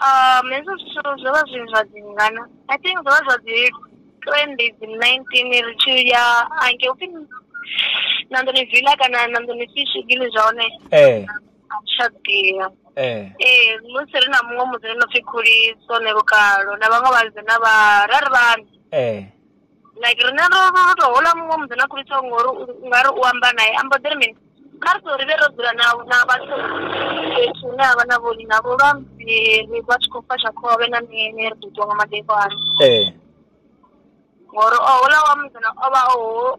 Um, hezwo zwithu zwo vha zwi zwa dzi ngana i think zwo vha zwa dzi twenty dzi nineteen ri tshi ya ange upfi nanḓoni villa kana nanḓoni fish gili zwa hone ee tsha ḓivha ee ee musi ri na muṅwe musi ri no pfi khuliso ne lukalo na vhaṅwe vhalidze na vha ra ri vhana ee like riṋe ro ro ro to houḽa muṅwe musidzana a khulisaho ngori u ungari u amba nae a mbo ḓi ri mini, kha ri ṱuwe rivhe ro dzula na na vhathu fhethu hune havha na vhori navho lwa ri vha tshi khou fasha khovhe na mini ri ḓo ṱuwa nga madekwana, ngori houḽa wa musidzana ovha o.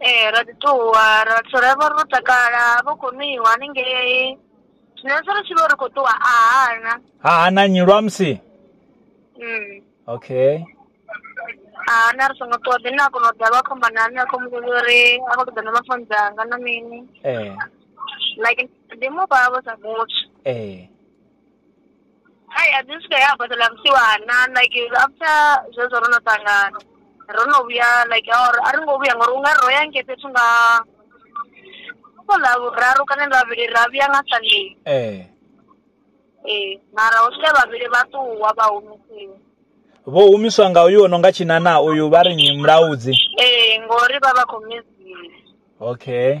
Ee ra ḓi ṱuwa ra vhathu ra vha ro takala ha vha hu khou nwiwa haningei zwino musi ri tshi vho ri khou ṱuwa a hana ha hana nyi lwa musi mm. okay a hana ri songo ṱuwa ḓi na kona u ḓa vha khomba na nṋe a khou muvhudza uri a khou ṱoḓa na mafoni dzanga na mini ee like ndi mufha vho sa muthu ee hai a dzi swika ya badela vhusiwana like after zwezwo ro no ṱangana ro no vhuya like or a ri ngo vhuya ngori u nga ro ya ngei fhethu nga kho ḽa vhuraru kana ḽa vhuvhili ra vhuya nga sunday ee ee mara ho swika vhavhili vha ṱuwa vha humisiwa vho humiswa nga uyu ono nga tshinana uyu vha ri mulaudzi ee ngori vha vha khou miziwa okay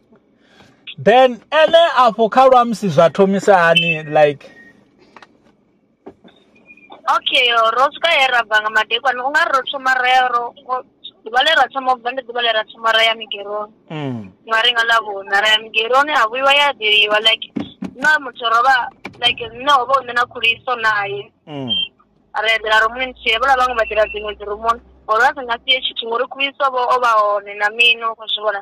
then ene afho kha lwamusi zwa thomisa hani like okay ro swika he ra bva nga madekwane u nga ri ro thoma ra ya ro ḓuvha le ra thoma ubva ndi ḓuvha le ra thoma ra ya migeroni mm. nga ri nga ḽavhuna ra ya migeroni ha vhuiwa ya ḓeliwa like na muthu ro vha like nṋe ho vha u nṋe na khuliso naye mm. ra eḓela rumuni nthihi vhola vhaṅwe vha ḓela dziṅwe dzirumuni uri vha si nga sie tshithu ngori khuliso vho o vha hone na mino u khou zwi vhona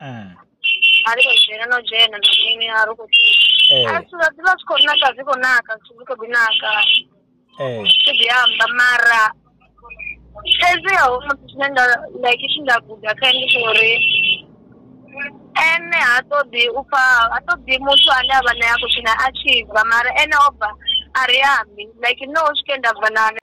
Eh. a ri khou dzhena no dzhena na mini a ri khou Eh. a zwithu zwa ḓi vha zwi khou naka zwi khou naka zwithu zwi khou ḓi naka Eh. zwi ḓi amba mara fhedzi ho muthu tshine nda like tshi nda guda kha ndi tsha uri ene ha ṱoḓi u pfa ha ṱoḓi muthu ane a vha nae a khou tshina a tshi bva mara ene o bva a ri ambi like no u swike nda bva nane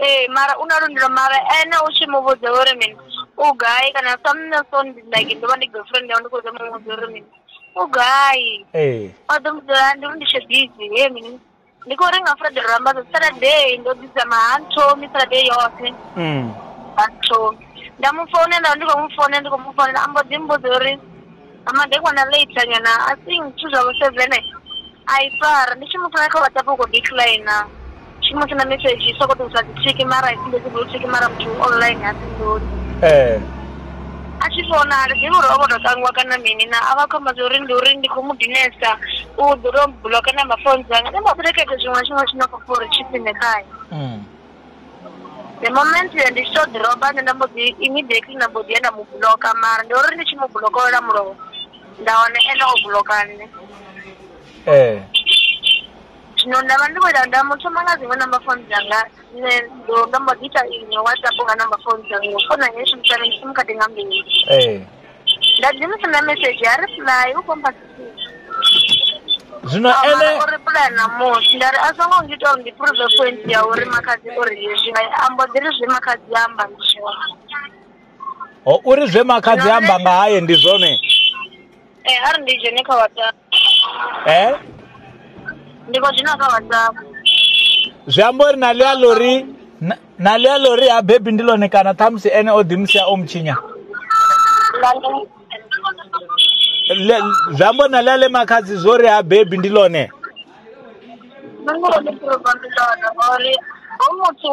Ee mara u na lwendo mara ene u tshi mu vhudza uri mini u gai kana sa nṋe so ndi like ndo vha ndi girlfriend yawe ndi khou zama mu vhudza uri mini u gai ee o ḓo mu dzula ndi uri ndi tshe busy he mini ndi khou renga friday ro amba zwa saturday ndo ḓi dzama ha nthomi saturday yoṱhe mm. ha nthomi nda mu founela nda ndi khou mu founela ndi khou mu founela a mbo ḓi mbudza uri Nga madekwana late nyana I think zwithu zwavho seven a i fari ndi tshi mu thola kha WhatsApp u kho decliner tshi mu senda mesedzhi i soko ṱuwisa dzi thiki mara i sumbedzi blue thiki mara muthu online ha fhinduli ee a tshi fona ha ḓivhi uri o vho to tangiwa kana mini na a vha khou amba zwa uri ndi uri ndi khou mu dinesa u ḓo to bloka na mafoni dzanga ndi mbo ḓi ri kha ite zwiṅwe na zwiṅwe tshine a khou pfha uri tshi khwine khae mm. The moment uh, ndi tshi tou ḓiroba nṋe nda mbo ḓi immediately nda mbo ḓi ya nda mu bloka mara ndi uri ndi tshi mu bloka wela mulovha nda wana ene o bloka nṋe ee zwino nda vha ndi khou ita nda mu thoma nga dziṅwe number phone dzanga nṋe ndo nda mbo ḓi ita iṅwe whatsapp nga number phone dzanga ngo fona ngei shumisana ndi simu khadi nga mbili ee nda ḓi mu senda mesedzhi a reply u khomba zwino ene o reply na musi nda ri a so ngo ngita uri ndi prove point ya uri makhadzi o ri hezwi a mbo ḓi ri zwe makhadzi a amba ndi zwone o uri zwe makhadzi amba nga haye ndi zwone eh a ri ndi dzhene kha whatsapp eh? ndi khou dzhena kha whatsapp zwi amba uri na ḽia lori na ḽia lori ha bebi ndi ḽone kana ṱhamusi ene o ḓimusia o mutshinya zwi amba uri na ḽia ḽe makhadzi zwo ri ha bebi ndi ḽone nṋe ngori ndi ḓoroba ndi ḽone ngori ho muthu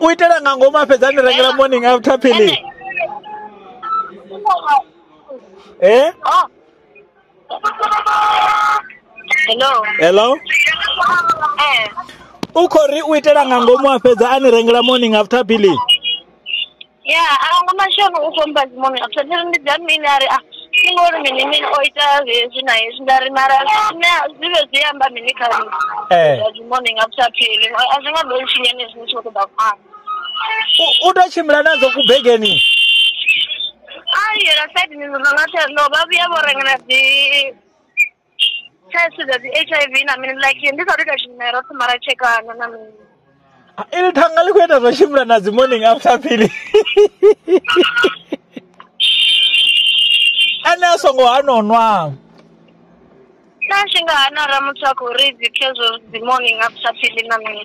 u itela nga ngomu a fhedza a ni rengela morning after philly Ene, eh oh. hello hello eh u khou ri u itela nga ngomu a fhedza a ni rengela morning after philly ya a hu na tshone u ṱompha dzi muṋe a ṱhoḓea uri ndi dza nnyi nda ri a thi ngo uri mini mini o ita hezwi na hezwi nda ri mara nṋe dzi vhe dzi amba mini kha nṋe Ee. zwa dzi muṋe nga sa pheli a zwi nga ḓo ntshinya nṋe zwine tsho ṱoḓa phanḓa U- u to tshimbila nadzo kubegeni a yela saidini ndo nga tsha ndo vha vhuya vho rengela dzi thaidzo dza dzi H_I_V na mini like ndi sathu ita tshimela ro thoma ra tshekana na mini Ah, ili thanga ḽi khou ita zwa tshimbila na dzi morning after phili ene a songo hano nwa na tshi nga hana ra muthu a khou ri dzi khezwo dzi morning after phili na mini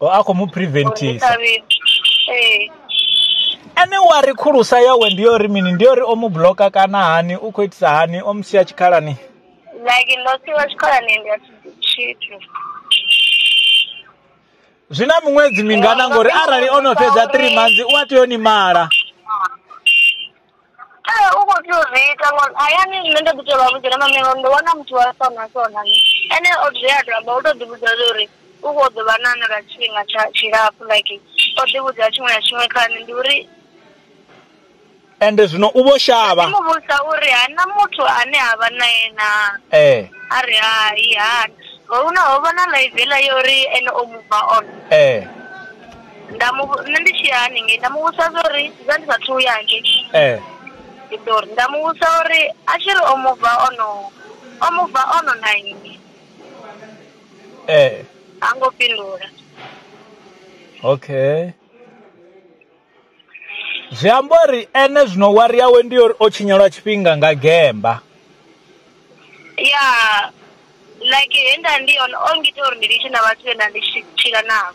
o a khou mu preventisa ee ene wa ri khulusa yawe ndi yo ri mini ndi yo ri o mu bloka kana hani u khou itisa hani o mu sia tshikhalani like ndo siwa tshikolani ndi a tshithu zwi na miṅwedzi mingana ngori arali o no fhedza three months u a tea u ni mala Ee u kho tea uzwi ita ngori hayani nṋe ndo ḓi tovha vhudza uri maame ndo wana muthu wa so na so na so, ene o dzula a to amba u to ḓi vhudza zwa uri u kho ḓovha na na lwa tshifhinga tsha tshilapfu like o ḓi vhudza tshiṅwe na tshiṅwe kha nṋe ndi uri ende zwino u vho shavha ndi mu vhudzisa uri ha na muthu ane a vha nae na ee a ri hai hani ho na ho vha na ḽaiveḽa ya uri ene o mubva on ee nda mu nṋe ndi tshiya haningei nda muvhudza zwori nda ndi sathu ya hangei ndi ḓo ri nda muvhudza uri a tshiri o muva ono o muva ono na nnyi ha ngo fhindula okay zwi amba uri ene zwino wari yawe ndi uri o tshinyalwa tshifhinga nga gemba ya like henda ndi yone o ngita uri ndi litshe na vhathu vhe nda ndi tshila navho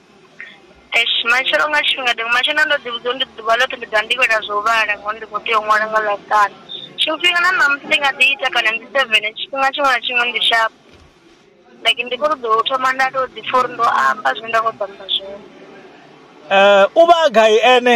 Eish matshelo nga tshifhinga ndi matshelo nda ndo ḓi vhudza uri ndi ḓuvha ḽoṱhe ndi ḓovha ndi khou ita zwa u vhala ngori ndi kho tea u ṅwala nga ḽavhuṱanu, tshiṅwe tshifhinga na ṋamusi ndi nga ḓi ita kana ndi sevene tshifhinga tshiṅwe na tshiṅwe ndi sharp, like ndi kho ṱoḓa u thoma nda to ḓi pfha uri ndo amba zwine nda kho ṱoḓa u amba zwone. U vha a gai ene?